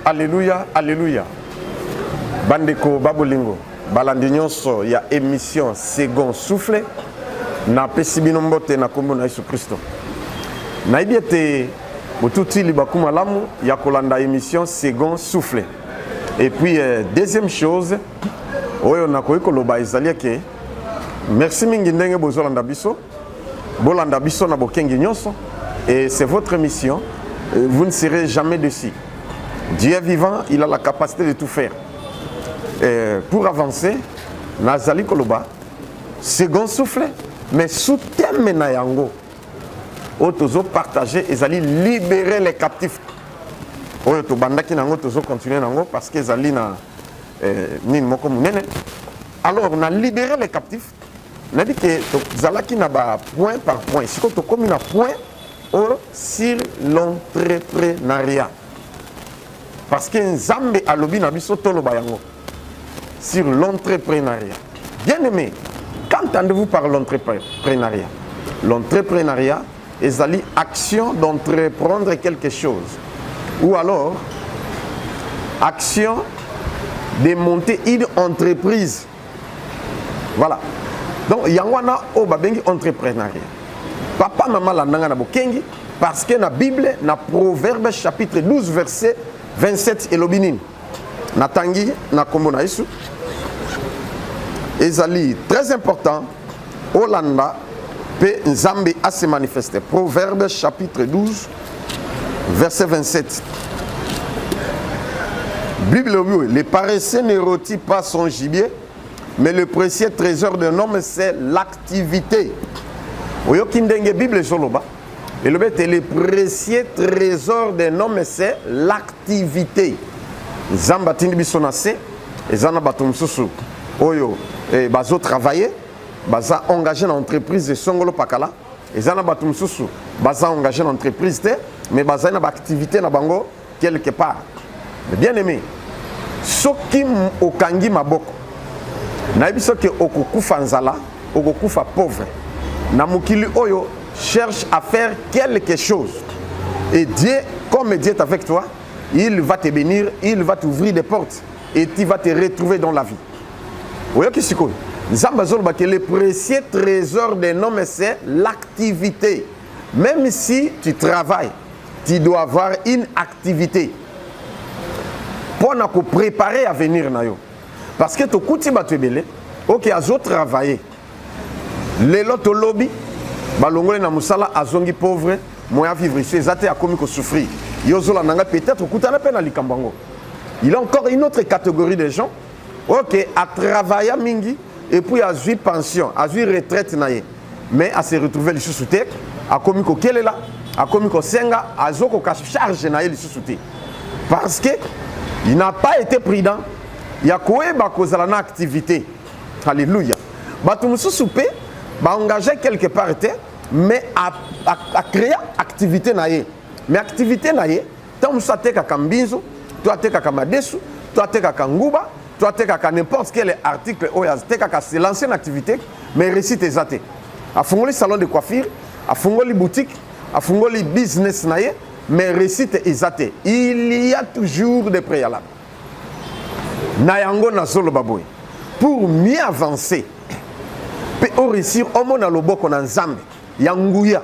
Alléluia, alléluia. Bandeko babolingo, balandi nyonso ya émission Second Souffle na pesi bino mbote na kombo na Yesu Kristo. Nayebi ete botuti libaku malamu ya kolanda émission Second Souffle. Et puis euh, deuxième chose oyo nakoki koloba ezali eke merci mingi ndenge bozolanda biso Bolanda biso na bokengi nyonso et c'est votre émission. Euh, vous ne serez jamais dessus. Dieu est vivant, il a la capacité de tout faire. Et euh, pour avancer, nazali koloba second souffle mais sous thème na yango oyo tozo partager ezali libérer les captifs oyo tobandaki na yango tozo continuer na yango parce que ezali na euh, nini moko monene alors na libérer les captifs nayebi ke tozalaki na ba point par point sikoyo tokomi na point o sur l'entrepreneuriat parce que nzambe alobi na biso toloba yango sur l'entrepreneuriat bien aimé qu'entendez-vous par l'entrepreneuriat l'entrepreneuriat ezali action d'entreprendre quelque chose ou alors action de monter une entreprise voilà donc yango wana oyo babengi entreprenariat papa mama landa ngai na bokengi parce que na bible na proverbe chapitre 12 verset 27 elobi nini natangi na nkombo na yesu ezali très important olanda mpe nzambe ase manifeste proverbe chapitre 12 verset 27 bible elobi oyo le paresseux ne roti pas son gibier mais le précieux trésor d'un homme c'est l'activité oyoki ndenge bible ezoloba elobi ete le précieux trésor d'un homme c'est l'activité nzambe atindi biso na se eza na bato mosusu oyo eh, bazotravaille baza engage na entreprise esongolo pakala eza na bato mosusu baza engage na entreprise te mais bazali na baaktivité na bango quelque part mais bien aimé soki okangi maboko nayebi soki okokufa nzala okokufa pauvre na mokili oyo cherche à faire quelque chose et Dieu comme Dieu est avec toi il va te bénir il va t'ouvrir des portes et tu vas te retrouver dans la vie oyoki sikoyo nzambe azolobakele précieux trésor de nome c'est l'activité Meme si tu travailles, tu dois avoir une activité mpo na koprepare avenir na yo parce que tokuti bato ebele oke azo travaille lelo tolobi balongoli na mosala azongi pauvre moyen ya vivre ici eza te akomi kosouffrir yo ozolanda ngai peut-être okutana mpe na likambo yango il a encore une autre catégorie de gens ok atravaya mingi epuis azwi pension azwi retraite na ye mais ase retrouve lisusu te akomi kokelela akomi kosenga azokoka charge na ye lisusu te parce que il n'a pas été prudent ya koyeba kozala na activité alleluya bato mosusu mpe baengage quelque part te mais acrea activité na ye mais activité na ye Ntango mosusu atekaka mbinzo, to atekaka madesu, to atekaka nguba, to atekaka n'importe quel article oyo atekaka, c'est l'ancienne activité, mais réussite eza te. Afungoli salon de coiffure, afungoli boutique, afungoli business na ye, mais réussite eza te. Il y a toujours des préalables. Na yango nazoloba boye, pour mieux avancer, mpe oresir omona loboko na nzambe ya nguya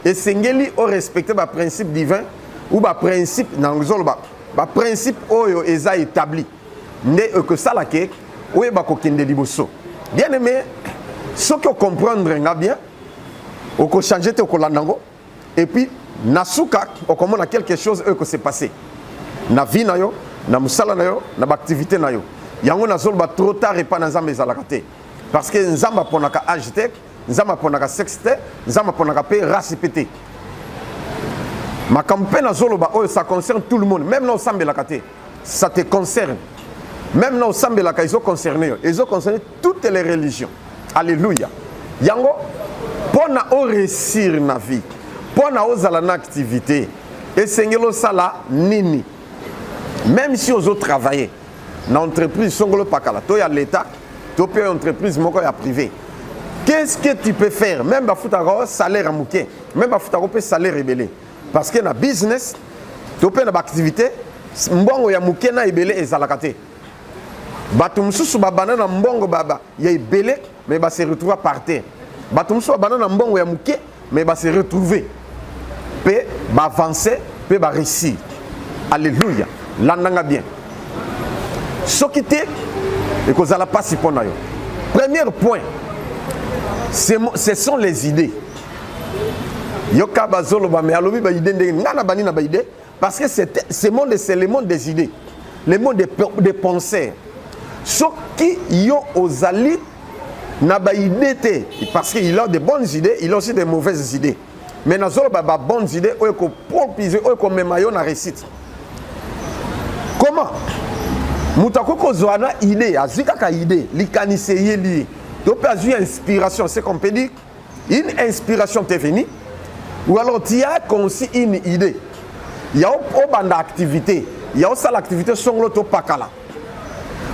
esengeli o respecter ba principe divin ou ba principe na ngozoloba ba principe oyo eza établi nde ekosala ke oyeba kokende liboso bien aimé soki ocomprendre nga bien okochange te okolanda yango et puis na suka okomona quelque chose oyo ekose passe na vie na yo na mosala na yo na baactivité na yo yango nazoloba trop tard epai na nzambe ezalaka te parce que nzambe aponaka age te nzambe aponaka sexe te nzambe aponaka mpe race mpe te makambo mpe nazoloba oyo ça concerne tout le monde même na osambelaka te ça te concerne même na osambelaka ezo concerne yo ezo concerne toutes les religions alleluya yango mpo na oresir na vie mpo na ozala na activité esengeli osala nini même si ozo travailler na entreprise songolo pakala to ya leta to mpe entreprise moko ya privé qu'est-ce que tu peux faire même bafutaka salaire ya moke même bafutaka mpe salaire ebele parce que na business to mpe na baactivité mbongo ya moke na ebele ezalaka te bato mosusu babanda na mbongo baba ya ebele mais ba se retrouva par terre bato mosusu babanda na mbongo ya moke mais ba se retrouve mpe baavance mpe bareusir alleluya landanga bien soki te ekozala mpasi mpo na yo premier point ce sont les idées yoka bazoloba me alobi baide ndenge ngai nabandi na baide Parce que ce monde, c'est le monde des idées, le monde des, des penseurs. Soki yo ozali na ba idée te, parce qu'il a de bonnes idées, il a aussi de mauvaises idées. Mais na zolo ba bonnes idées, oyo ko propiser, oyo ko mema yo na réussite. Comment? Moto akoki kozwa na idée, azwi kaka idée, likanisi eyeli ye, to mpe azwi inspiration, c'est qu'on peut dire Une inspiration t'est venue ou alors tu as conçu une idée ya obanda activité ya osala activité songolo to pakala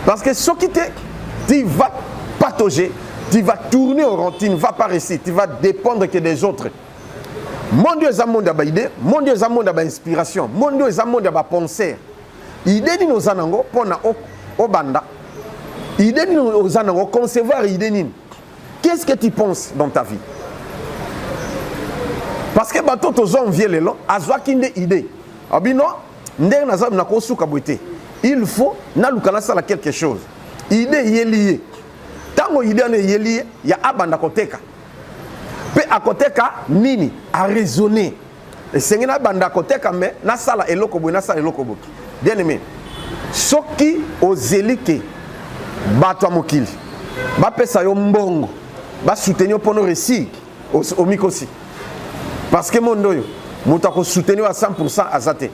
parce que soki te tu vas patauger tu vas tourner au rond tu ne vas pas réussir tu vas dépendre que des autres monde oyo eza monde ya baide monde oyo eza monde ya bainspiration monde oyo eza monde ya bapenser ide nini oza nango mpo na obanda ide nini oza nango concevoir ide nini Qu'est-ce que tu penses dans ta vie? Parce que bato tozo envie lelo azwaki nde idée. Abino ah, ndenge naza na kosuka boye te. Il faut naluka nasala quelque chose. Idée eyeli ye. Ntango idée wana eyeli ye ya abanda koteka. Mpe akoteka nini? Araisonner. esengeli nabanda koteka me nasala eloko boye nasala eloko boye bien aimé soki ozeli te bato ya mokili bapesa yo mbongo basoutenir yo mpono resi omikosi parce que mondo oyo moto akosoutenir yo a 100 aza te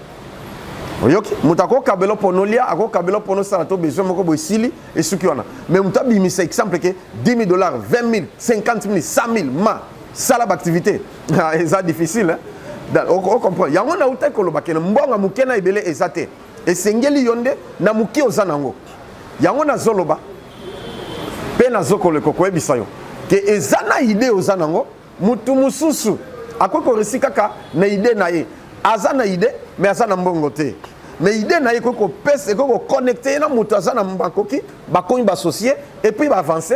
oyoki moto akokabela mpo nolia akokabela mpo nosala to besoin moko boye esili esuki wana mais moto abimisa exemple ke 10 000 dollars 20 000 50 000 100 000 ma sala baactivité Ah, eza difficile hein? ocomprendre yango nautaki koloba kene mbongo moke na ebele eza te esengeli yo nde na moke oza nango yango nazoloba mpe nazokoleka koyebisa yo ke eza na ide oza nango motu mosusu akoki koresi kaka na ide na ye aza na ide me aza na mbongo te me ide na ye ekoki kopesa ekoki kokonekte ye na moto aza na makoki bakomi basocie epuis baavance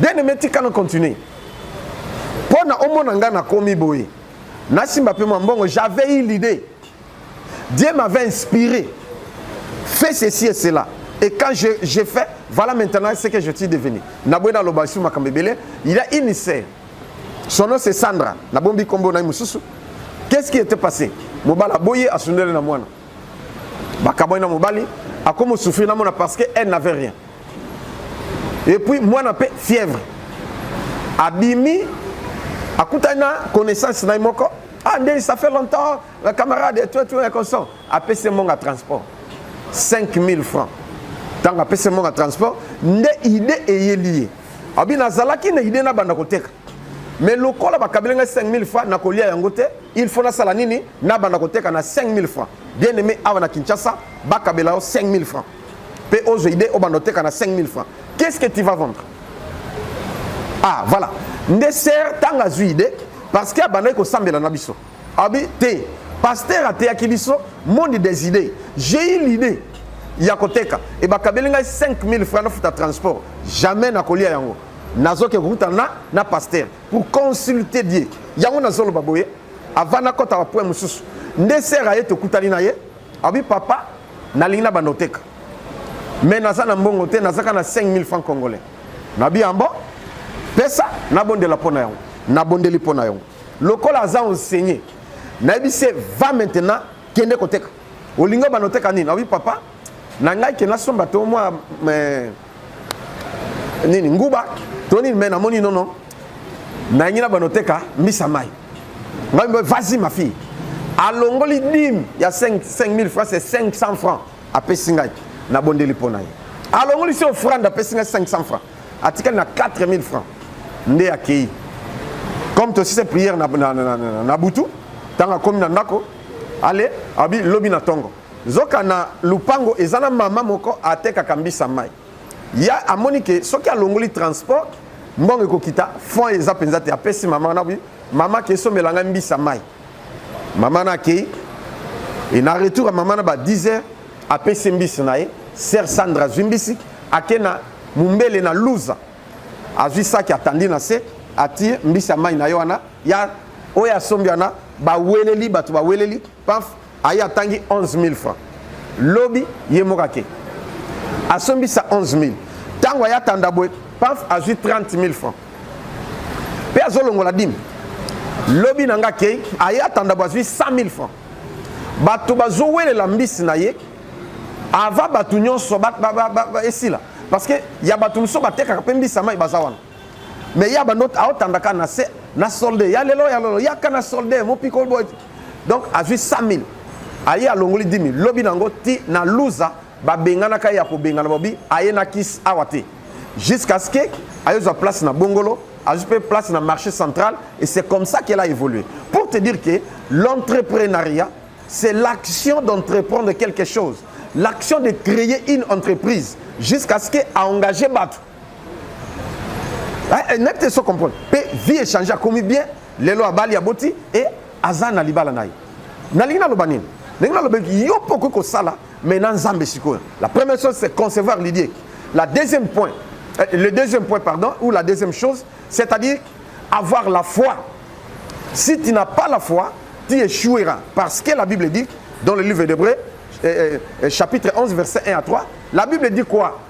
bien aimé tika na continuer mpo na omona ngai nakomi boye nasimba mpe mwa mbongo j'avais eu l'idée dieu m'avait inspiré fait ceci et cela et quand je, je fais voilà maintenant ce que je suis devenu naboye naloba su makambo ebele il a une sœur son nom c'est sandra nabombi nkombo na ye mosusu qu'est-ce qui était passé mobali aboye asundeli na mwana bakabwani na mobali akomi osufri na mwana parce que elle n'avait rien et puis mwana mpe fièvre abimi akutani na connaissance na ye moko ah ndeni ça fait longtemps la camarade et tout et tout et constant apesi monga transport 5000 francs ntango apesi monga transport nde idée eyeli ye abi nazalaki na idée nabanda koteka mais lokola bakabeli ngai 5000 francs nakolia yango te il faut nasala nini nabanda koteka na 5000 francs bien aimé awa na kinshasa bakabela yo 5000 francs Pe ozo idée obanda oteka na 5000 francs. Qu'est-ce que tu vas vendre? Ah, voilà. Nde sœur tanga azui idée parce que abandaki kosambela na biso. Abi te. Pasteur ateyaki biso monde des idées. J'ai eu l'idée ya koteka e bakabeli ngai 5000 francs nafuta transport jamais nakolia yango nazoke kokuta na na pasteur pour consulter die yango nazoloba boye avant nakɔta bapoint mosusu nde sere aye tokutani na ye Abi papa nalingi na banda oteka mais naza na mbongo te nazaka na 5000 francs congolais nabi yango pesa nabondela mpo na yango nabondeli mpo na yango lokola aza enseigne nayebi se va maintenant kende koteka olingi obanda oteka nini nabi papa na ngai ke nasomba to mwa nini nguba to nini me namoni nono nayangi na bano teka mbisa mai ngai mpe vasi ma fille alongoli dime ya 5000 francs se 500 francs apesi ngai nabondeli mpo na ye alongoli se ofrande apesi ngai 500 francs atikali na 4000 francs nde akei comme tosise prière na, na, na, na, na butu ntango akomi na ndako ale abi lobi na ntongo Nzoka na lupango eza na mama moko atekaka mbisa mai. Ya amoni ke soki alongoli transport mbongo ekokita fond eza mpenza te apesi mama wana bi mama ke esombela ngai mbisa mai. Mama na akei e na retour ya mama na ba 10 heures apesi mbisi na ye sœur Sandra azwi mbisi ake na mumbele na luza azwi saki atandi na se atie mbisi ya mai na ye wana ya oyo asombi wana baweleli bato baweleli paf aye atangi 11000 francs lobi ye moko ake asombisa 11000 ntango aye atanda boye paf azwi 30000 francs mpe azolongola dime lobi na nga akei aye atanda boye azwi 100000 francs bato bazowelela mbisi na ye ava bato nyonso esila parce que ya bato mosusu batekaka mpe mbisi ya mai baza wana mais ya bando aotandaka na se na solde ya lelo ya lelo yaka na solde mopiko boye donc azwi 100 000 aye alongoli 10 000 lobi na yango ti na luza babenganaka ye ya kobengana bobi aye na kisi awa te jusqu'à ce que ayozwa place na bongolo azwi mpe place na marché central et c'est comme ça qu'elle a évolué pour te dire que l'entrepreneuriat c'est l'action d'entreprendre quelque chose l'action de créer une entreprise jusqu'à ce que aengage bato eh, nayebi te so comprendre mpe vie échange akomi bien lelo abali aboti e aza na libala na ye nalingi naloba nini ndenge nalobaki yo mpe okoki kosala mais na nzambe sikoyo la première chose c'est concevoir l'idée la deuxième point euh, le deuxième point pardon ou la deuxième chose c'est-à-dire avoir la foi si tu n'as pas la foi tu échoueras parce que la bible dit dans le livre d'hébreu euh, euh, euh chapitre 11 verset 1 à 3 la bible dit quoi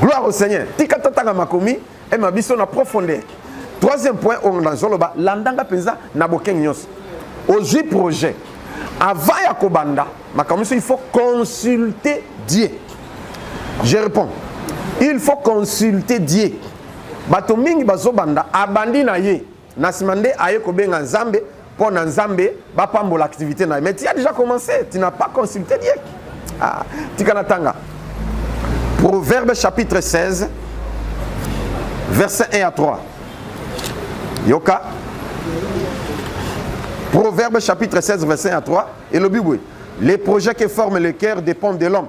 Gloire au Seigneur. Tika totanga makomi et ma biso na profondeur. Troisième point oyo nazoloba landanga mpenza na bokengi nyonso. Ozwi projet. Avant ya kobanda makambo il faut consulter Dieu. Je réponds. Il faut consulter Dieu. Bato mingi bazobanda abandi na ye. Na sima nde aye kobenga Nzambe mpo na Nzambe bapambola activité na ye. Mais tu as déjà commencé, tu n'as pas consulté Dieu. Ah, tika na tanga. Proverbe chapitre 16 verset 1 à 3. Yoka. Proverbe chapitre 16 verset 1 à 3 et le but les projets que forme le cœur dépendent de l'homme.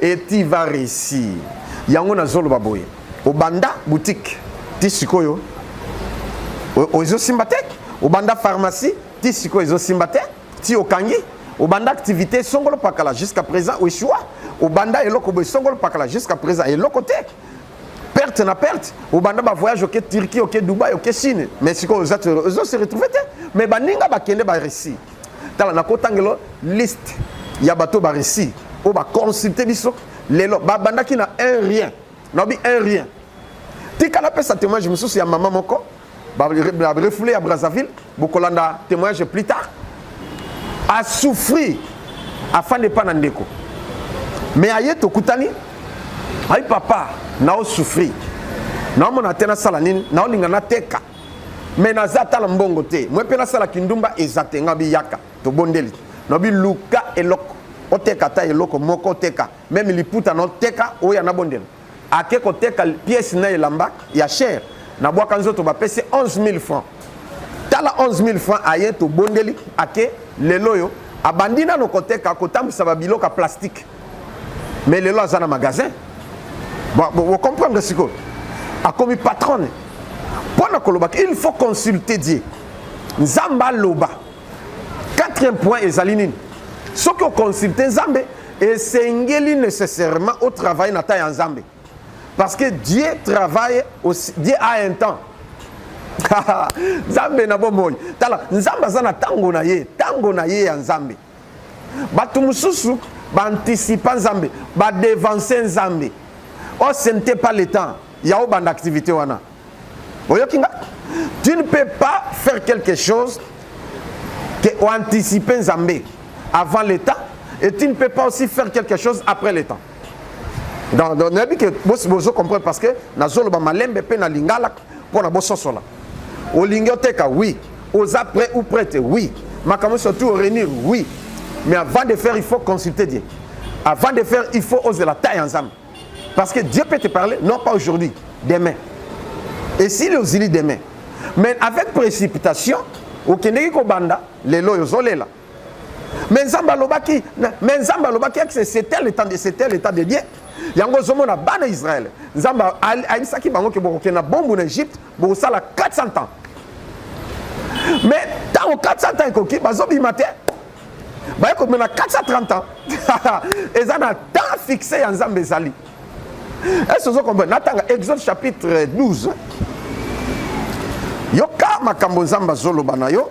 et tu vas réussir yango nazoloba boye obanda boutique ti sikoyo ozosimba te obanda pharmacie ti sikoyo ezosimba te ti okangi obanda activité esongolo pakala jusqu'à présent oeshua obanda eloko boye esongolo pakala jusqu'à présent eloko te perte na perte obanda bavoyage oke turquie oke dubai oke chine mais sikoyo ozo se retrouve te mais baninga bakende barussie tala nakotangelo liste ya bato ba Russie oyo baconsulte biso lelo babandaki na un rien nabi un rien tika napesa témoignage mosusu ya mama moko barefoule ya brazzaville bokolanda témoignage plus tard asouffrir afandi epa na ndeko me aye tokutani ayi papa naosouffrir naomona te nasala nini naolinga nateka me naza ata na mbongo te mwe mpe nasala kindumba eza te nga biyaka tobondeli nobi luka eloko oteka ata eloko moko oteka meme liputa na oteka oya na bondela ake koteka pièce na elamba ya cher na bwaka nzoto bapesi 11000 francs tala 11000 francs aye tobondeli ake lelo oyo abandi nano koteka kotambwisa babiloko ya plastike mais lelo aza na magasin bocomprendre sikoyo akomi patronne mpo na kolobaka il faut consulter die nzambe aloba quatrième point ezali nini soki oconsulte nzambe esengeli nécessairement otravaille na temps ya nzambe parce que dieu travaille aussi, dieu a un temps nzambe na bomoi tala nzambe aza na ntango na ye ntango na ye ya nzambe bato mosusu baanticipa nzambe badevanse nzambe o oh, ce n'était pas le temps ya obanda activité wana oyoki nga tu ne peux pas faire quelque chose que oanticipe nzambe avant le temps et tu ne peux pas aussi faire quelque chose après le temps donc nayebi ke bosi bozo comprendre parce que nazoloba malembe mpe na lingala mpo na bososola olingi oteka oui oza prêt ou prête oui makambo surtout réunir oui mais avant de faire il faut consulter Dieu avant de faire il faut oser la taille ensemble parce que Dieu peut te parler non pas aujourd'hui demain et si le zili demain mais avec précipitation okendeki kobanda lelo oyo ozolela mais nzambe alobaki mais nzambe alobaki yaki c'était le temps de c'était le temps de dieu yango ozomona bana israel nzambe ayebisaki bango ke bokokende na bombu na egypte bokosala 400 ans mais ntango 400 ans ekoki bazobima te baye komema 430 ans eza na temps fixe ya nzambe ezali ese ozo comprendre natanga exode chapitre 12 yoka makambo nzambe azoloba na yo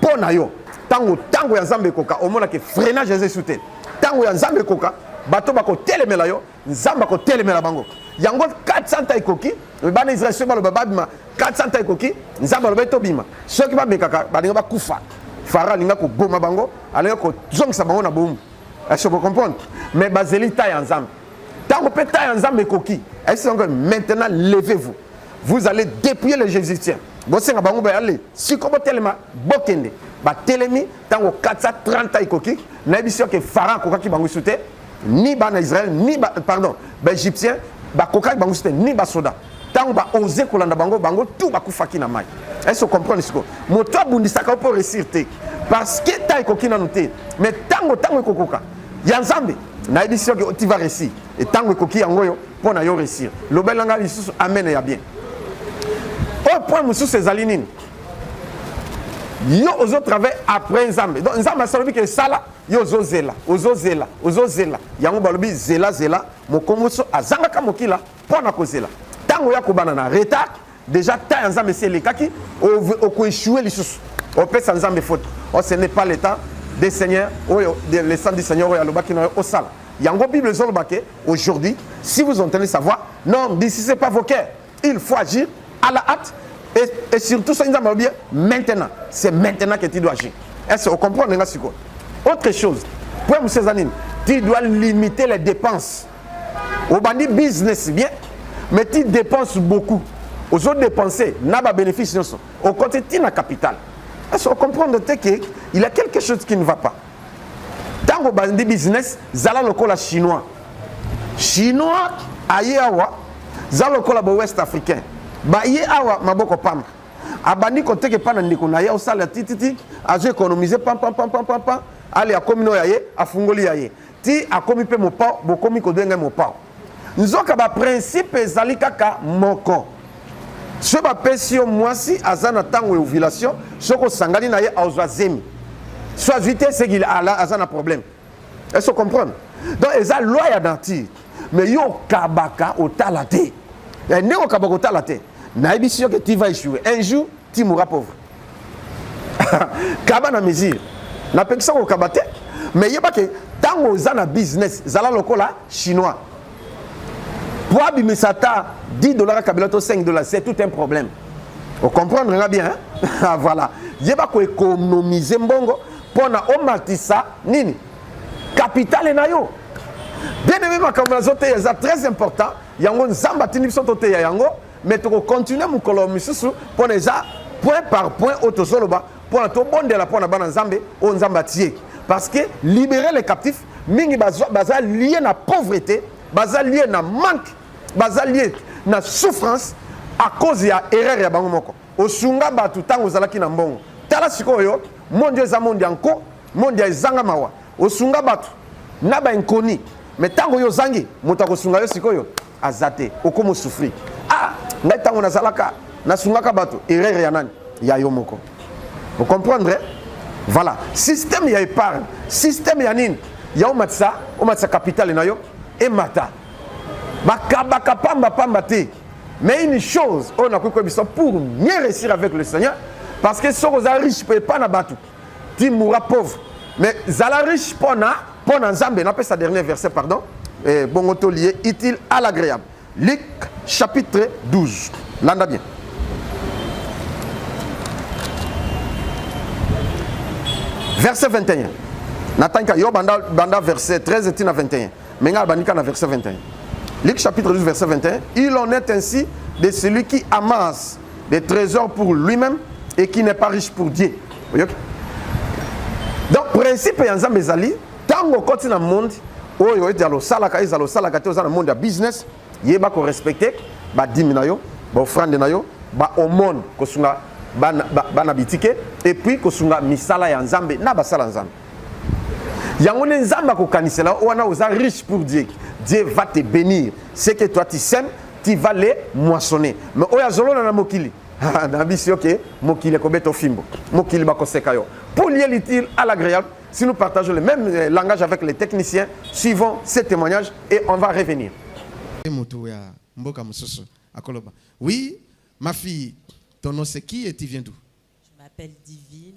mpo na yo ntango ntango ya nzambe ekoka omona ke freinage eza esu te ntango ya nzambe ekoka bato bakotelemela yo nzambe akotelemela bango yango 400 ta ekoki bana ya israel soki baloba babima 400 ta ekoki nzambe alobai tobima soki bamekaka balinga bakufa fara alinga koboma bango alinga kozongisa bango na bomu ese bocomprendre mais bazeli ta ya nzambe ntango mpe ta ya nzambe ekoki ese yango maintenant levez vous Vous allez dépouiller les Jésuitiens. bosenga bango bayale siko botelema bokende batelemi ntango 430 ekoki nayebisi yo ke farao akokaki bango isu te ni bana israel ni ba, pardon baegyptien bakokaki bango isu te ni basoda ntango baose kolanda bango bango tu bakufaki na mai ese ocomprendre sikoyo moto abundisaka yo mpo resir te parce que ntango ekoki nanu te mais ntango ntango ekokoka ya nzambe nayebisi soki tu vas réussir etango ekoki yango oyo mpo na yo réussir lobela ngai lisusu amen ya bien oyo point mosusu ezali nini yo ozo travaille après nzambe donc nzambe asalobi ke esala yo ozozela ozozela ozozela yango balobi zela zela mokomoso azangaka mokila mpo na kozela ntango ya kobana na retard Deja temps ya Nzambe esi elekaki, okoeshue lisusu, opesa Nzambe faute. Oh, ce n'est pas le temps des seigneurs, oyo le sang du Seigneur oyo alobaki na yo osala. Yango Bible ezoloba ke aujourd'hui, si vous entendez sa voix, n'endurcissez pas vos cœurs. Il faut agir à la hâte et, et surtout soki Nzambe alobi maintenant, c'est maintenant que tu dois agir. Est-ce que vous comprenez nga sikoyo? Autre chose, point mosusu eza nini? Tu dois limiter les dépenses. obandi business bien mais tu dépenses beaucoup ozo dépenser na ba bénéfice nyonso okoti ti na capital est-ce comprendre te que il y a quelque chose qui ne va pas ntango obandi business zala lokola chinois chinois aye awa za lokola ba ouest africain baye awa maboko pamba abandi koteka epai na ndeko na ye osala tititi azo économise pampampampampampa ale akomi no ya ye afungoli ya ye Ti akomi pe mopao, bokomi kobenga ye mopao. Nzoka ba principe ezali kaka moko. Soki bapesi yo mwasi aza na ntango ya ovulation, soki osangani na ye aozwa zemi. So azwi te seki ala aza na problème. Est-ce que comprendre? Donc eza loi ya nature. Mais yo okabaka otala te. Eh, ndenge okabaka otala te. Nayebisi yo que tu vas échouer. Un jour, tu mourras pauvre. kaba na mesure napekisa kokaba te me yeba ke ntango oza na business zala lokola chinois po abimisa ata 10 dollar ya kabila to 5 dollar c'est tout un problème ocomprendre nga bien ah, voilà yeba koekonomise mbongo mpo na omatisa nini kapitale na yo bien aime makambo nazoteya eza très important yango nzambe atindi biso toteya yango mais toko continuer mokolo misusu mpo na eza point par point oyo tozoloba mpo na tobondela mpo na bana nzambe oyo nzambe atieki parce que libérer les captifs mingi baza, baza lie na pauvreté baza lie na manque baza lie na souffrance à cause ya erreur ya bango moko osunga bato ntango ozalaki na mbongo tala sikoyo mondi eza mondi ya nko mondi ya ezanga mawa osunga bato na bainkoni me ntango yo ozangi moto akosunga yo sikoyo aza te okomo souffrir ah ngai ntango nazalaka nasungaka bato erreur ya nani ya yo moko vous comprendre voilà système ya épargne système ya nini ya omatisa omatisa capitale na yo emata bakabaka pamba pamba te mais une chose oyo nakoki koyebisa pour mieux réussir avec le seigneur parce que soki oza riche mpe epa na bato ti moura pauvre mais zala riche mpo na mpo na nzambe napesa dernier verset pardon eh, bongo tolie utile à l'agréable luc chapitre 12 landa bien verset 21 natangika yo banda, banda verset 13 ti na 21 me ngai abandi ka na verset 21 luc chapitre 12 verset 21 il en est ainsi de celui qui amasse des trésors pour lui-même et qui n'est pas riche pour Dieu. Oyoki? Donc principe ya Nzambe ezali tango okoti na monde oyo ete alosalaka ezala osalaka te oza na monde ya business yeba ko respecter badimi na yo baofrande na yo baomone kosunga bana, bana bitike epuis kosunga misala ya Nzambe na basala Nzambe yango nde nzambe akokanisela yo wana oza riche pour dieu dieu va te bénir ce que toi tu sème tu vas le moissonner mais oyo azolona na mokili na bisi yo ke mokili ekobeta ofimbo mokili bakoseka yo pour lier l'utile à l'agréable si nous partageons le même euh, langage avec les techniciens suivons ces témoignages et on va revenir motu ya mboka mosusu akoloba oui ma fille ton nom c'est qui et tu viens d'où je m'appelle divine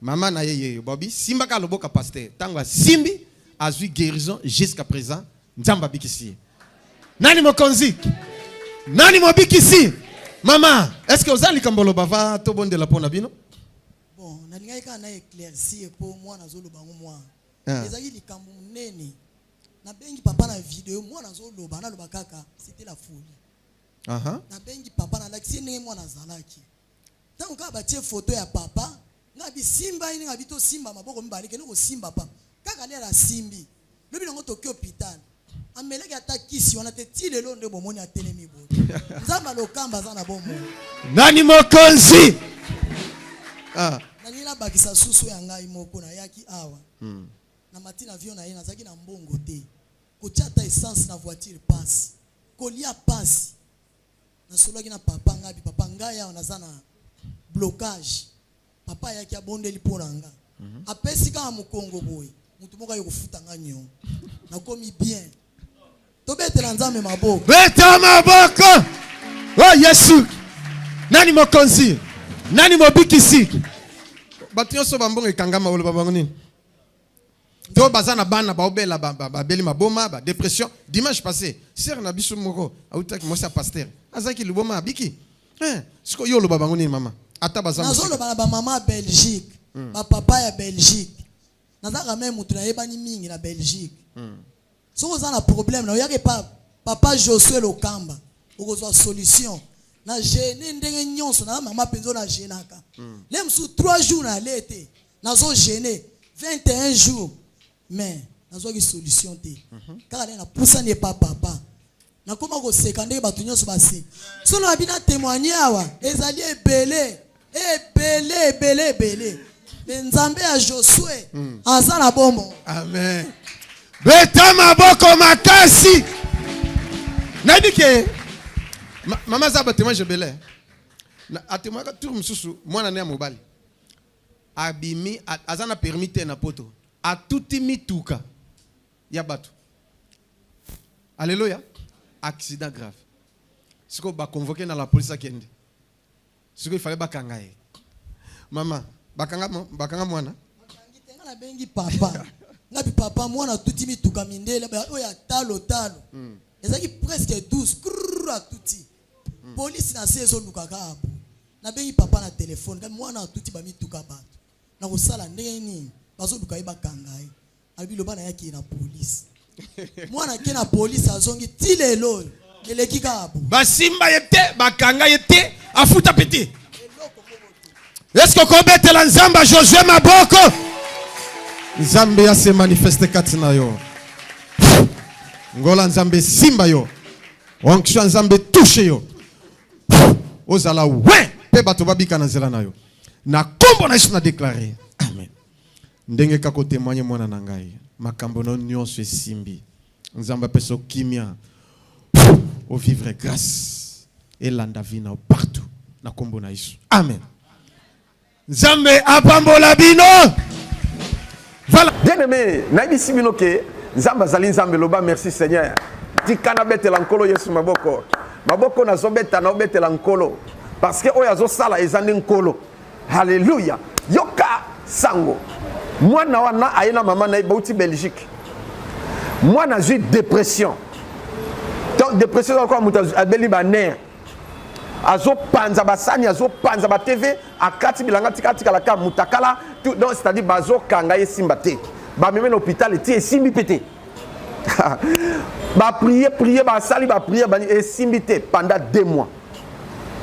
Maman na ye yeyo bobi simba ka loboka pasteur tango asimbi azui guérison jusqu'à présent nzambe abikisi ye nani mokonzi nani mobikisi mama est ce que oza likambo oloba va tobondela mpo na bino bon nalingaki kaka na éclaircir mpo mwana azoloba yango mwana ah. ezalaki likambo monene nabengi papa na video mwana azoloba naloba kaka c'était la folie nabengi papa nalakisi ye ndenge mwana azalaki Tango kaka batie photo ya papa, nga bi simba ye ndenge abi to simba maboko mibale kende ko simba papa. Kaka lelo asimbi. Lobi nango toke hopital. Amelaki ata kisi wana te ti lelo nde bomoni atelemi boye. Nzambe ya lokamba aza na bomoi. Nani mokonzi? Ah. Nalingi nabakisa susu ya ngai moko nayaki awa. Hmm. Na mati na avion na ye nazalaki na mbongo te. Kotia ata essence na voiture pasi. Kolia pasi. nasolaki na papa ngabi papa ngai awa naza na blocage papa ayaki abondeli mpo na nga mhm. apesi kaka mokongo boye motu moko aye kofuta nga niongo nakomi bien tobetela nzambe maboko beta maboko o oh, yesu nani mokonzi nani mobikisi bato nyonso bambongo ekangama oloba bango nini to baza na bana baobela babeli maboma ba dépression dimanche passé sœur na biso moko autaki mwasi ya pasteur azalaki liboma abiki eh, siko yo oloba bango nini mama ata baza nazoloba na bamama ya belgique hmm. bapapa ya belgique nazalaka meme moto nayebani mingi na belgique hmm. soki oza na problème na oyaka epa papa josue lokamba okozwa solution na gene ndenge nyonso na mama mpenza na genaka mm. le mosusu 3 jours na ale te nazo gene 21 jours mais nazwaki solution te mm -hmm. kaka nde napusani epa papa nakoma koseka ndenge bato nyonso basi solo babi na temoigne awa ezali ebele ebele ebele ebele me nzambe ya josue hmm. aza na bombo amen beta maboko makasi nayebi ke mama aza batemoigne ebele atemoignaka tour mosusu mwana ne ya mobali abimi aza na permis te na poto atuti mituka ya bato aleluya accident grave sikoyo baconvoke na la police akende sikoyo ifale bakanga ye mama bakanga, mo- bakanga mwana Bakangi te, nga nabengi papa ngabi papa mwana atuti mituka mindele ba- oyo ya talo talo ezalaki presque 12 krrr, atuti polisi na se ezoluka kaka po nabengi papa na telefone ngabi mwana atuti bamituka bato nakosala ndenge nini bazoluka ye bakanga ye alobi loba na yaki na police mwana ake na police azongi ti lelo oyo eleki kaka bo basimba ye te bakanga ye te afuta peti eske okobetela nzambe josue maboko nzambe ya se manifeste kati na yo ngola nzambe esimba yo onction nzambe etushe yo ozala we mpe bato babika na nzela na yo na nkombo na yesu na deklare ndenge kaka otemoigne mwana na ngai makambo na nyonso esimbi nzambe apesa okimia ovivre grâce elanda vi na partout na nkombo na yesu amen nzambe apambola bino voilà. bien aimé nayebisi bino ke nzambe azali nzambe loba merci seigneur tika nabetela nkolo yesu maboko maboko nazobeta naobetela nkolo parce que oyo azosala eza nde nkolo Haleluya! Yoka sango, mwana wana aye na mama na ye bauti Belgique, mwana azwi depression to depression ezalaka moto abeli baner azopanza basani azopanza batv akati bilanga tika atikala ka mutakala donc c'est-à-dire bazokanga ye simba te bameme na hôpital eti esimbi mpe te baprie prie basali baprie bani esimbi te pendant deux mois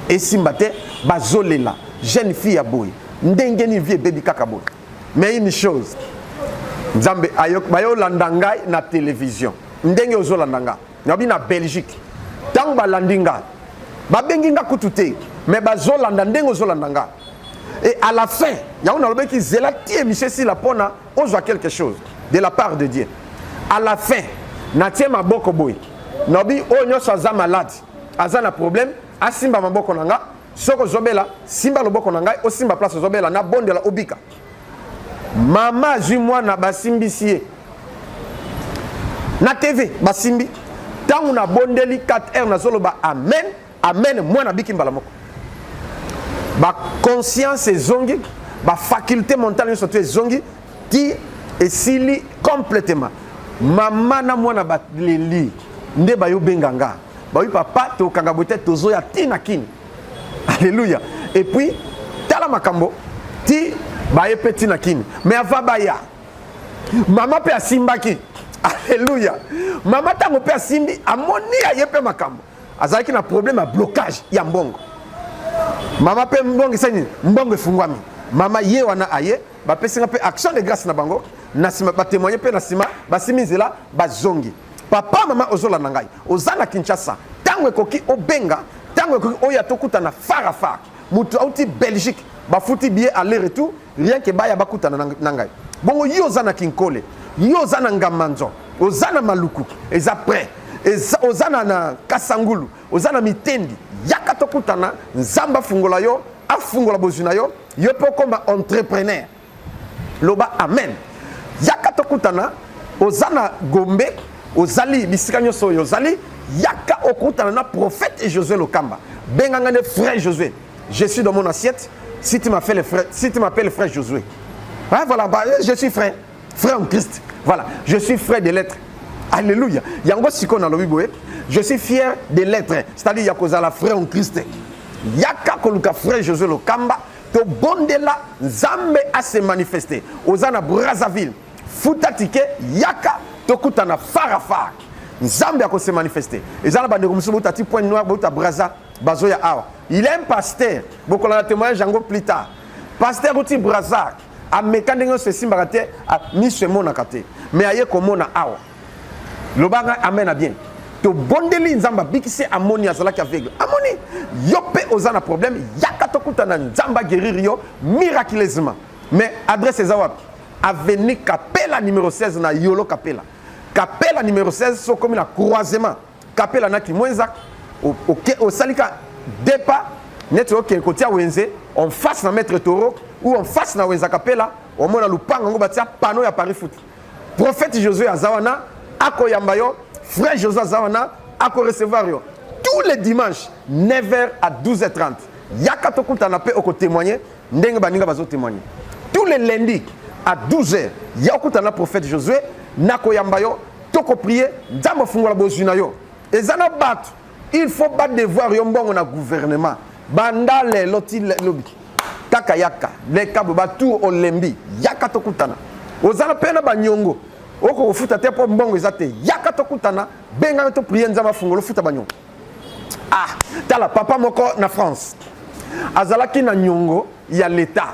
esimba te bazolela jeune fille ya boye ndenge nini vie ebebi kaka boye mais une chose nzambe bayolanda ngai na télévision ndenge ozolanda nga nabi na belgique ntango balandi nga babengi nga kutu te mais bazolanda ndenge ozolanda nga et à la fin yango nalobaki zela ti émission esila mpona ozwa quelque chose de la part de dieu à la fin natie maboko boye nabi oyo nyonso aza malade aza na problème asimba maboko na nga soki ozobela simba loboko na ngai osimba place ozobela na bondela obika mama azwi mwana basimbisi ye na tv basimbi ntango nabondeli 4 heure nazoloba amen amen mwana abiki mbala moko baconscience ezongi bafaculte mentale nyonso to ezongi ti esili complètement mama na mwana baleli nde bayo benga nga bawi papa tokanga boye te tozoya ti na kini alleluya epuis tala makambo ti baye mpe ti na kini me ava baya mama mpe asimbaki alleluya mama ntango mpe asimbi amoni aye mpe makambo azalaki na problème ya blocage ya mbongo mama mpe mbongo esani mbongo efungwami mama ye wana aye bapesi nga mpe action de grâce na bango na nsima batemoigne mpe na nsima basimi nzela bazongi papa mama ozolanda ngai oza na kinshasa ntango ekoki obenga ntango ekoki oyo atokutana far a far moto auti belgique bafuti billet aller retour rien ke baya bakutana na ngai bongo yo oza na kinkole yo oza na ngamanzo oza na maluku eza près oza na, na kasangulu oza na mitendi yaka tokutana nzambe afungola yo afungola bozwi na yo Yo mpe okoma entrepreneur, loba amen. Yaka tokutana, oza na Gombe, ozali bisika nyonso oyo ozali, yaka okutana na prophète Josué Lokamba. Benga nga nde frère Josué. Je suis dans mon assiette. Si tu m'appelles frère, si tu m'appelles frère Josué. Hein, voilà, bah, je suis frère. frère en christ voilà je suis frère de lettre alléluia yango sikoyo nalobi boye je suis fier de lettre c'est-à-dire ya kozala frère en christ yaka koluka frère josé lokamba tobondela nzambe ase manifeste oza na brazzaville futa tike yaka tokutana farafar nzambe akose manifeste eza na bandeko mosusu bouta ti point noir bouta braza bazoya awa il est un pasteur bokolanda témoignage yango plus tard pasteur uti brazzaville ameka ndenge nyonso esimbaka te miso emonaka te me aye komona awa lobanga amena bien tobondeli nzambe abikisi amoni azalaki aveugle amoni yo mpe oza na problème yaka tokutana nzambe ageriri yo miraculeusement mais adresse eza wapi aveni kapela numero 16 na yolo kapela kapela numero 16 sokomi na croisement kapela na kimwenza osali ka depa neti okende kotia wenze en face na maître toro ou en face na wenza kapela omona lupango yango batia pano ya paris foot prophète josué aza wana akoyamba yo frère josué aza wana akorecevoir yo tous les dimanches 9h à 12h30 yaka tokutana mpe okotémoigne ndenge baninga bazotémoigne tous les lundis à 12h ya okutana prophète josué nakoyamba yo toko prier nzambe afungola bozwi na yo eza na bato il faut badevoir yo mbongo na gouvernement banda lelo ti lobi kaka yaka leka boba tour olembi yaka tokutana oza na mpe na banyongo oko kofuta te mpo mbongo eza te yaka tokutana bengana to prier nzambe afungola ofuta banyongo ah tala papa moko na france azalaki na nyongo ya leta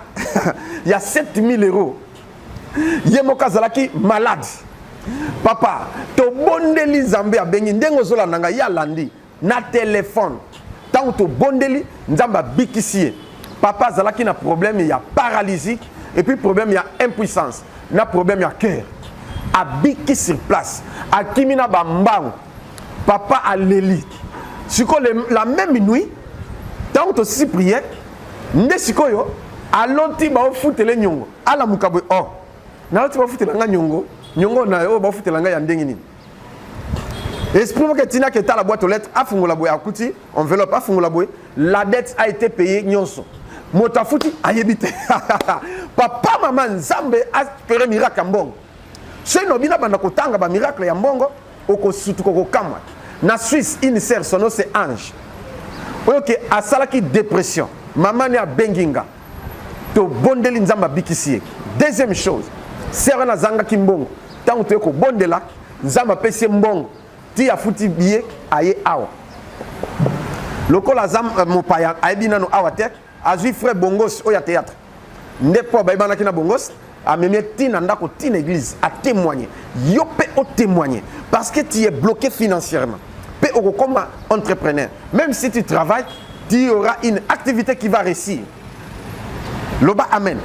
ya 7000 euros ye moko azalaki malade papa tobondeli nzambe abengi ndenge ozolanda ngai ye alandi na telefone ntango tobondeli nzambe abikisi ye papa azalaki na problème ya paralysie epuis problème ya impuissance na problème ya cœur abiki sur place akimi na bambangu papa aleli sikoyo la même nuit ntango tosisi priere nde sikoyo aloti baofutele nyongo alamuka boye oh nayoti bafutela nga nyongo nyongo na oyo bafutela nga ya ndenge nini esprit moko etinaki etala boîte aux lettres afungola boye akuti enveloppe afungola boye la dette a été payée nyonso moto afuti ayebi te papa mama nzambe apere miracle ya mbongo soki nobi nabanda kotanga bamiracle ya mbongo okosutuka okokamwa na suisse une sœur sono se ange oyo ke asalaki dépression mama ne abengi nga tobondeli nzambe abikisi ye deuxième chose sere wana azangaki mbongo ntango toye kobondela nzambe apesi ye mbongo ti afuti biye aye awa lokola aza euh, mopaya ayebi nano awa te azwi frais bongos oyo ya théâtre nde mpo bayebanaki na bongos amemi ti na ndako ti na église a témoigner yo pe o témoigner parce que tu es bloqué financièrement pe okokoma entrepreneur même si tu travailles tu y aura une activité qui va réussir loba amen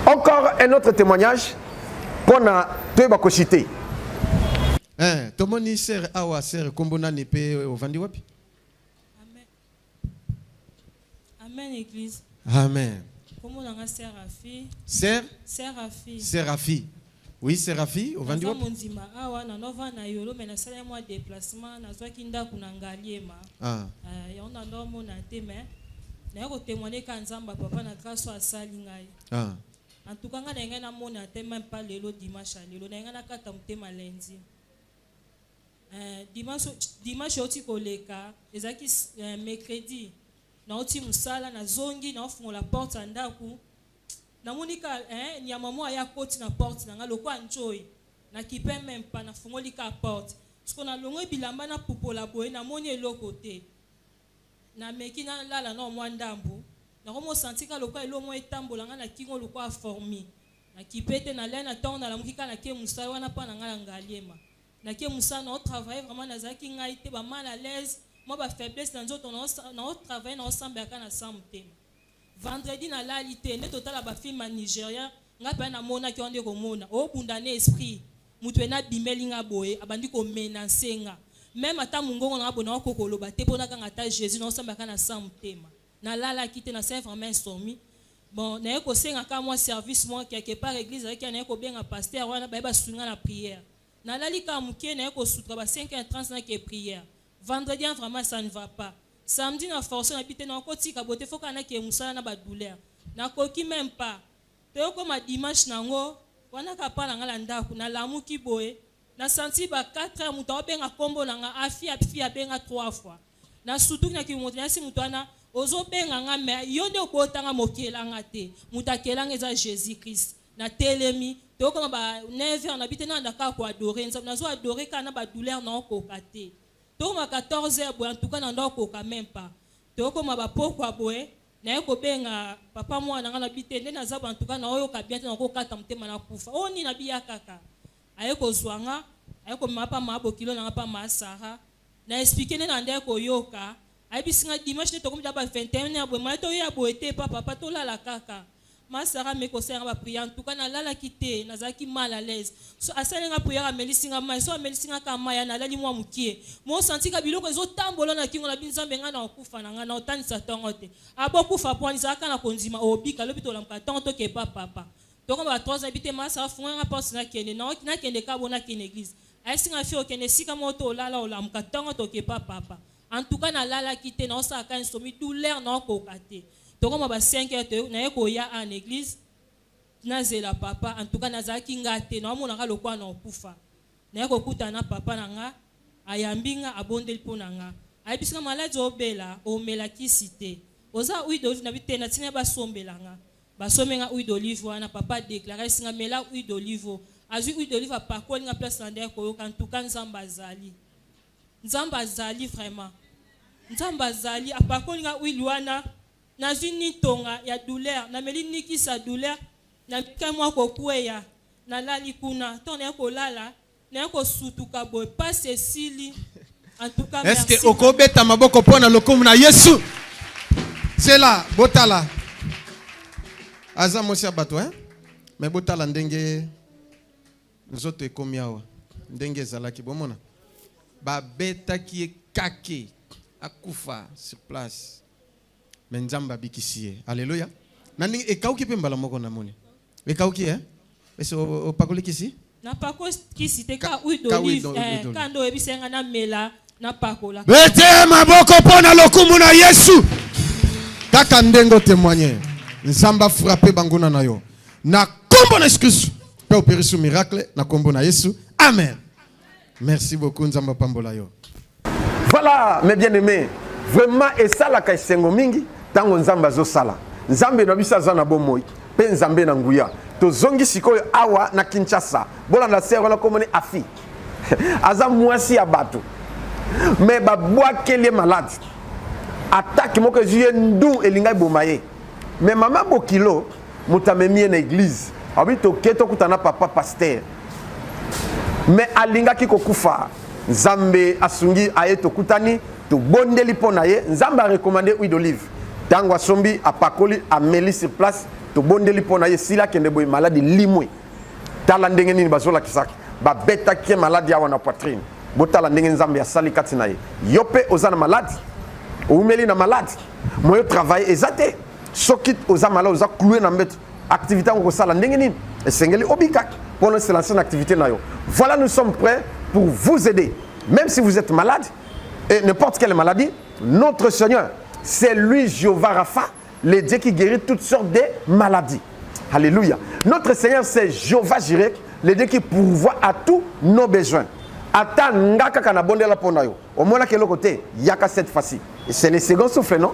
encore un autre témoignage mpo na toyeba kosite eh, tomoni sere awa sere nkombo nani mpe ovandi wapi Amen église. Amen. Comment on a Seraphie? Ser? Seraphie. Seraphie. Oui, Seraphie, au vendu. Nazo mondima awa na nova na yolo mais na sala moi déplacement na zwa kinda kuna ngaliema. Ah. Euh, ya on a ndo mona te mais na yako témoigner ka nzamba papa na grâce à sali ngai. Ah. En tout cas, ngai na ngai na mona te même pas lelo dimanche lelo na ngai na kata mutema lundi. Eh, dimanche, dimanche oti koleka ezalaki eh, mercredi nauti mosala nazongi naofungola porte ya ndako namoni ka eh, nyama moko aya koti na porte na ngai lokola ncoi nakipe meme pa nafungoli ka porte siko nalongoi bilamba napupola boye namoni eloko te nameki nalala nao mwa ndambo nakomosantika lokola eloko moko etambola ngai na kingo lokola formi nakipe te nalai na ntongo nalamuki kaka nake mosala wana mpa na ngai na ngaliema Na ke musala na travailler vraiment na zaki ngai te ba mal à l'aise moi ba faiblesse na nzoto na o travailler na osambela ka na sans motema. Vendredi na lali te nde totala ba film ya Nigeria ngai pe na mona ki onde ko mona o bunda na esprit mutu ena bimeli nga boye abandi ko menacer nga même ata mungongo na bona ko koloba te pona kanga ata Jésus na osambela ka na sans motema. Na lala ki te na se vraiment insomnie Bon naye kosenga ka mwa service mwa quelque part eglise azalaki ya naye kobenga pasteur wana baye basunga na prière nalali ka muke naye kosutra ba 5 heures 30 na ke prière vendredi hein, vraiment ça ne va pas samedi na force na bite na kotika bote faut kana ke musala na ba douleur na koki même pas toyokoma dimanche nango wana ka pala nga la ndaku nalamuki boye Na sentir ba quatre heures mutu ao benga kombo na nga afia pfi abenga trois fois na sutuki na kimoto na yesi mutu wana ozo benga nga mais yo nde obota nga mais okela nga te mutu akela nga eza Jesus Christ na telemi tokoma ba 9 heures na bite na anda kaka ko adorer nzambe nazo adorer kaka na ba douleur na okoka te tokoma 14 heures boye en tout cas na ndo okoka même pas tokoma ba pokwa boye naye kobenga papa mwana nga na bite nde naza ba en tout cas na oyoka bien te na kokata motema na kufa oyo nini na biya kaka aye kozua nga aye komema pa ma bokilo na nga pa ma Sarah na explique nde na nde aye koyoka ayebisi nga dimanche nde tokomi da ba 21 heure boye maye toye ya boye te pa papa tolala kaka ma Sarah ame kosala nga ba prière en tout cas nalalaki te nazalaki mal à l'aise so asali nga prière amelisi nga mai so amelisi nga ka mai nalali mwa mukie mo santi ka biloko ezo tambola na kingo na bi nzambe nga na okufa na nga na otanisa tongo te abokufa po nizalaka na kondima obika lobi tolamuka tongo toke pa papa Toko ba trois ans bite masa afunga nga porte na kende na oki na kende kabo na kende eglise ayesi nga fio okende sika mo to olala olamuka tongo toke pa papa en tout cas na lala ki te na osala ka insomi douleur na okoka te toko ma ba cinq heures to na ye ko ya a na eglise na zela papa en tout cas na zala ki nga te na omona ka lokwa na okufa na ye ko kuta na papa na nga ayambi nga abondeli po na nga ayebisi nga maladi obela omela kisi te oza huile d'olive na bite na tina ba sombela nga Ba sombi nga huile d'olive wana papa a declares nga mela huile d'olive oyo. Azui huile d'olive apakoli nga place na ndai koyoka en tout cas Nzambe azali. Nzambe azali vraiment. Nzambe azali apakoli nga huile wana nazui ni tonga ya douleur na meli ni kisa douleur na mika mwa kokueya na lali kuna to na kolala naye kosutuka boye pasi esili antuka est ce que okobeta maboko mpo na lokumu na yesu sela botala aza mwasi ya bato eh? me botala ndenge nzoto ekomi awa ndenge ezalaki bomona babetaki ye kake akufa sur place me nzambe abikisi ye aleluya na ndenge ekauki mpe mbala moko namoni Ekauki eh? Esi opakoli kisi? Napakoli kisi te ka huile d'olive. Eh, ka ndo oyebisa nga namela napakola. Bete maboko mpo na lokumu na Yesu. Kaka ndenge otemoigne. Nzambe afrape banguna na yo. Na kombo na Yesu Kristo. Mpe operisi miracle na kombo na Yesu. Amen. Merci beaucoup Nzambe apambola yo. Voilà mes bien-aimés, vraiment esalaka esengo mingi ntango Nzambe azosala. Nzambe na biso aza na bomoi mpe Nzambe na nguya. Tozongi sikoyo awa na Kinshasa. Bolanda sere wana komoni afi aza mwasi ya bato me babwakeli ye malade atake moko ezwi ye ndu elingai boma ye me mama bokilo moto amemi ye na eglize abi toke tokuta na papa paster me alingaki kokufa nzambe asungi aye tokutani tobondeli mpo na ye nzambe arekomande huile d'olive ntango asombi apakoli ameli sur place tobondeli mpo na ye esili akende boye maladi limwe tala ndenge nini bazolakisaki babetaki ye maladi awa na poitrine botala ndenge nzambe asali kati na ye yo mpe oza na maladi oumeli na maladi moyo travaille eza te soki oza malade oza cloue na mbeto activité yango kosala ndenge nini esengeli obikaki mpo na oselance na activité na yo voilà nous sommes prêts pour vous aider même si vous êtes malade et n'importe quelle maladie notre seigneur c'est lui Jéhovah Rapha le Dieu qui guérit toutes sortes de maladies alléluia notre seigneur c'est Jéhovah Jireh le Dieu qui pourvoit à tous nos besoins ata nga kaka nabondela mpo na yo omonaka eloko te yaka cette fois-ci c'est le second souffle non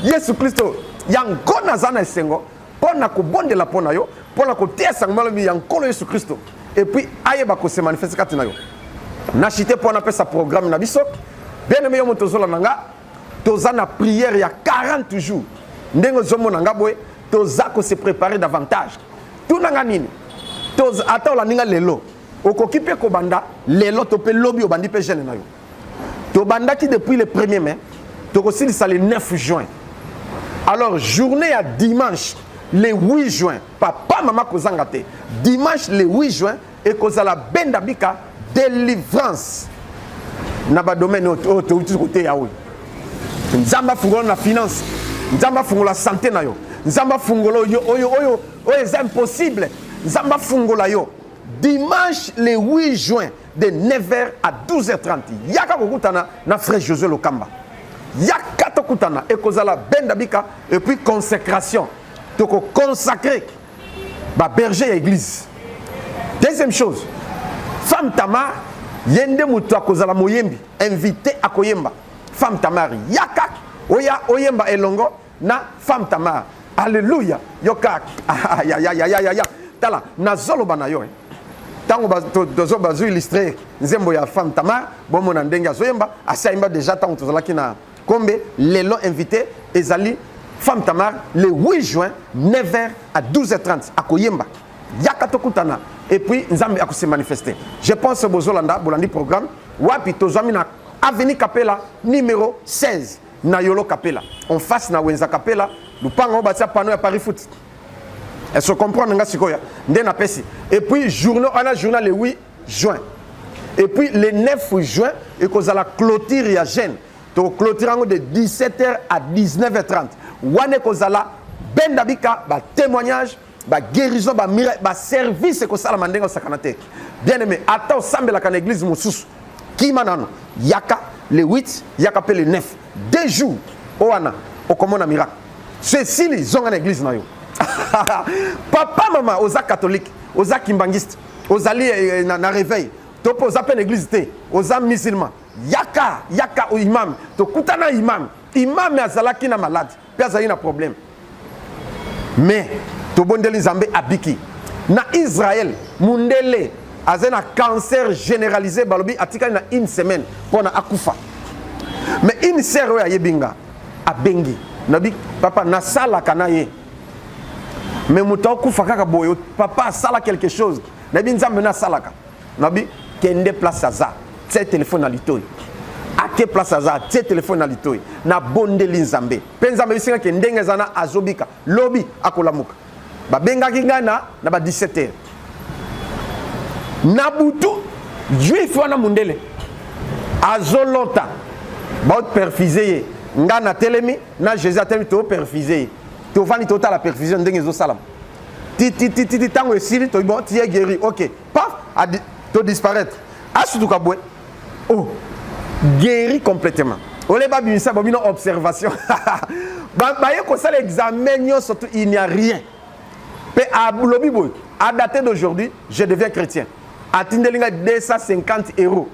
yesu kristo yango naza na esengo mpo na kobondela mpo na yo mpo na koteya sango malobi ya nkolo yesu kristo epuis ayeba kose manifeste kati na yo na chite mpo napesa programme na biso bien aime yo moto ozola na nga toza na prière ya 40 jours ndenge ozomona nga boye toza kose préparer davantage tuna nga nini ata olandi nga lelo okoki mpe kobanda lelo to mpe lobi obandi mpe jeune na yo tobandaki depuis le 1er mai tokosilisa le 9 juin alors journée ya dimanche le 8 juin papa mama kozanga te dimanche le 8 juin ekozala benda bika délivrance na badomaine oyo touti koteya oyo nzambe afungola na finance nzambe afungola sante na yo nzambe afungola oyo oyo oyo eza impossible nzambe afungola yo dimanche le 8 juin de 9h à 12h30 yaka kokutana na frère José Lokamba yaka tokutana ekozala benda bika et puis consécration toko consacrer ba berger ya église deuxième chose femme Tamar ye nde moto akozala moyembi invité akoyemba femme Tamar yaka oya oyemba elongo na femme tamar alleluia yoka ayayayayaya tala nazoloba na yo ntango tozo bazo illustre nzembo ya femme tamar bomona ndenge azoyemba asi ayemba deja ntango tozalaki na kombe lelo invité ezali femme tamar le 8 juin 9h à 12h30 akoyemba yaka tokutana et puis nzambe akose manifeste je pense bozolanda bolandi programme wapi tozwami na avenue kapela numéro 16 na yolo kapela en face na wenza kapela lupanga obatia pano ya paris foot est-ce que comprendre nga sikoya nde na pesi et puis journal ana journal le 8 juin et puis le 9 juin ekozala clôture ya jeune to clôture yango de 17h à 19h30 wana ekozala benda bika ba témoignages ba guérison ba miracle ba service ekosalama ndenge osakana te bien aimé ata osambelaka na église mosusu kima nano yaka le 8 yaka mpe le 9 deux jours o wana okomona miracle so esili zonga na église na yo papa mama oza catholique oza kimbangiste ozali eh, eh, na, na réveil to mpe oza mpe na église te oza musulman yaka yaka imam tokutana imam imam azalaki na malade mpe azali na problème mais tobondeli nzambe abiki na israel mundele azali na cancer généralisé balobi atikali na une semaine mpo na akufa mais une sœur oyo ayebi nga abengi nabi papa nasalaka na ye mais moto akufa kaka boye papa asala quelque chose nayebi nzambe nasalaka nabi kende place aza tie telefone na litoi ake place aza tie telefone na litoi nabondeli nzambe mpe nzambe ebisinga ke ndenge eza na azobika lobi akolamuka babengaki ngai na na ba 17 heures na butu juif wana mondele azolota baoperfise ye ngai natelemi na jésus atelemi tooperfise ye tovandi totala perfusion ndenge ezosalama titititi ntango esili toyebi bon tiye guéri ok paf adi to disparaître asutuka boye oh guéri complètement ole babimisa bo bino observation baye kosala examen nyonso tu il n'y a rien mpe alobi boye a dater d'aujourd'hui je deviens chrétien atindeli ngai 250 euros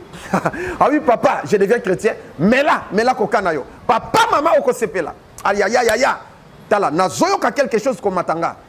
ah oui papa je deviens chrétien mela mela koka na yo papa mama okosepela ayayayaya tala nazoyoka quelque chose komata nga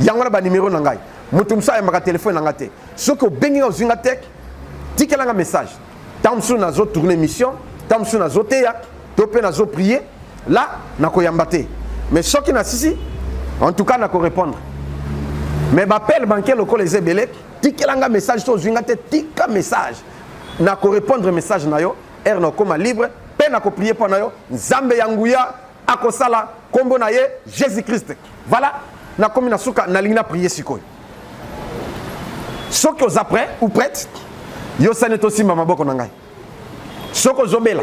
yango wana banimero na ngai moto mosusu ayambaka telefone na ngai te soki obengi ngai ozwi ngai tek tikela ngai message ntango mosusu nazotourne émission ntango mosusu nazoteya to mpe nazoprie la nakoyamba te mais soki nasisi en tout cas nakorépondre mais bapele banke lokola eza ebele tikela ngai message to ozwi ngai te tika message nakorépondre message na yo ere nakokoma libre mpe nakoprie mpo na yo nzambe ya nguya akosala kombo na ye jesus christ vala nakomi na suka nalingi na priye sikoyo soki oza prêt ou prête yosani tosimba maboko na ngai soki ozobela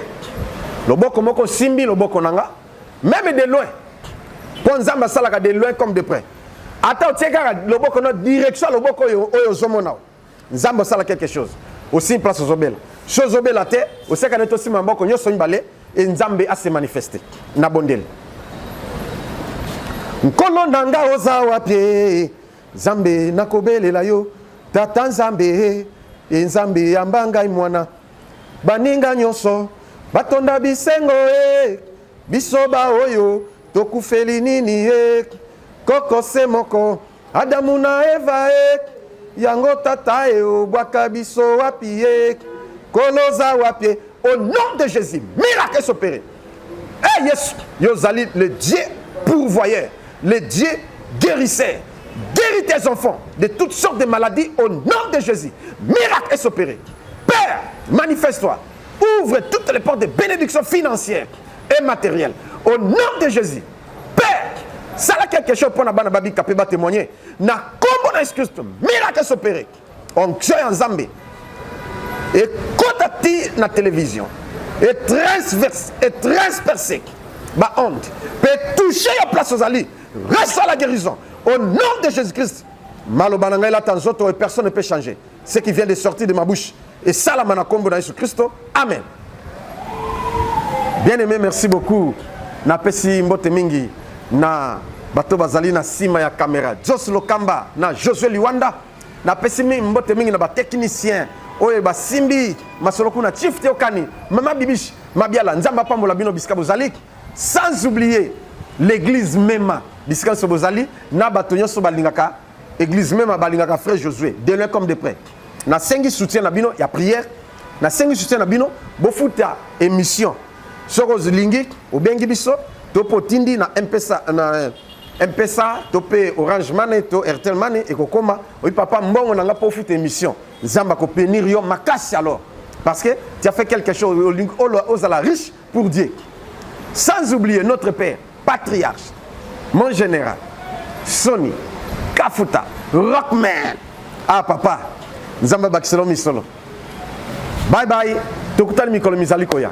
loboko moko osimbi loboko na nga meme de loin mpo nzambe asalaka de loin comme de près ata otie kaka loboko na direction ya loboko oyo oyo ozomona oyo nzambe osala quelque chose osimi place ozobela so ozobela te oseka neti osima maboko nyonso mibale e nzambe ase manifeste na bondeli nkolo na nga oza wapi nzambe nakobelela yo tata nzambe e nzambe yamba ngai mwana baninga nyonso batonda bisengo e biso baoyo tokufeli nini e koko se moko Adamu na Eva e yango tata e obwaka biso wapi ye koloza wapi au nom de Jésus miracle s'opérer eh Yesu yo ozali le Dieu pourvoyeur le Dieu guérisseur guéris tes enfants de toutes sortes de maladies au nom de Jésus miracle est opéré Père manifeste-toi ouvre toutes les portes de bénédiction financière et matérielle au nom de Jésus Père, sala quelque chose pona bana babika pe ba témoigner na kombo na excuse to miracle s'opérer. Onction ya Nzambe. Et kota ti na télévision. Et transverse et transpercé. Ba honte. Pe toucher ya place aux ali. Reste à la guérison. Au nom de Jésus-Christ. Maloba na ngai lata nzoto et personne ne peut changer. ce qui vient de sortir de ma bouche esalama na nkombo na yesu kristo amen bien aimé merci beaucoup napesi mbote mingi na bato bazali na nsima ya kamera jos lokamba na josue liwanda napesi mbote mingi na batechnicien oyo basimbi masolo kuna chief teokani mama bibish mabiala nzambe apambola bino bisika bozali sans oublier l'église mema bisika nyonso bozali na bato nyonso balingaka Église même abalingaka frère Josué de loin comme de près. Na sengi soutien na bino ya prière, na sengi soutien na bino bofuta émission. Soko olingi obengi biso to potindi na mpesa na mpesa to pe orange money to airtel money ekokoma oyi papa mbongo na nga mpo ofuta émission nzambe akopenir yo makasi alors parce que tu as fait quelque chose ozala riche pour Dieu. Sans oublier notre père, patriarche, mon général, Sony, Kafuta, Rockman. Ah papa, Nzamba Bakiselo Misolo. Bye bye, tokutani mikolo mizali koya.